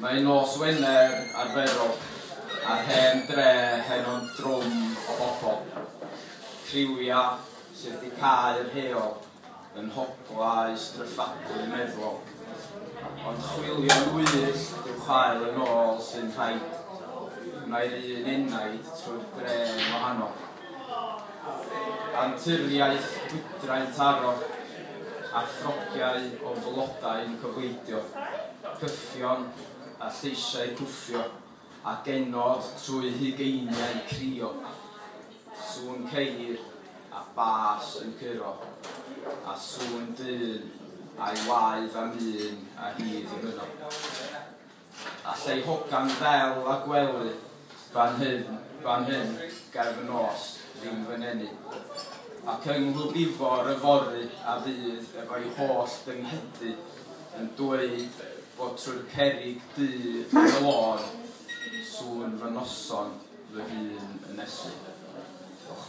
Mae nos Wener arferol a'r hen dre heno'n drwm o bobl. Criwia sydd wedi cau yr heol yn nhoglau stryffadwy meddwol. Ond chwilio'n wyllt i'w chael yn ôl sy'n rhaid. Mae'r un enaid trwy'r dre'n wahanol. Anturiaeth gwydrain taro a throciau o flodau yn cyhoeddio cyffion a lleisiau cwffio a genod trwy hugeiniau crio. Sŵn ceir a bas yn curo, a sŵn dyn a'i waed am un a hyd i fynno. Alla i hogan ddel a gwely fan hyn, fan hyn, ger fy nos, ddim fy nenu. Ac yng Nghlwbifor yfory a fydd efo'i holl dynghydu yn dweud bod trwy'r cerrig du yn y lôn, sŵn fy noson fy hun yn nesu. Diolch.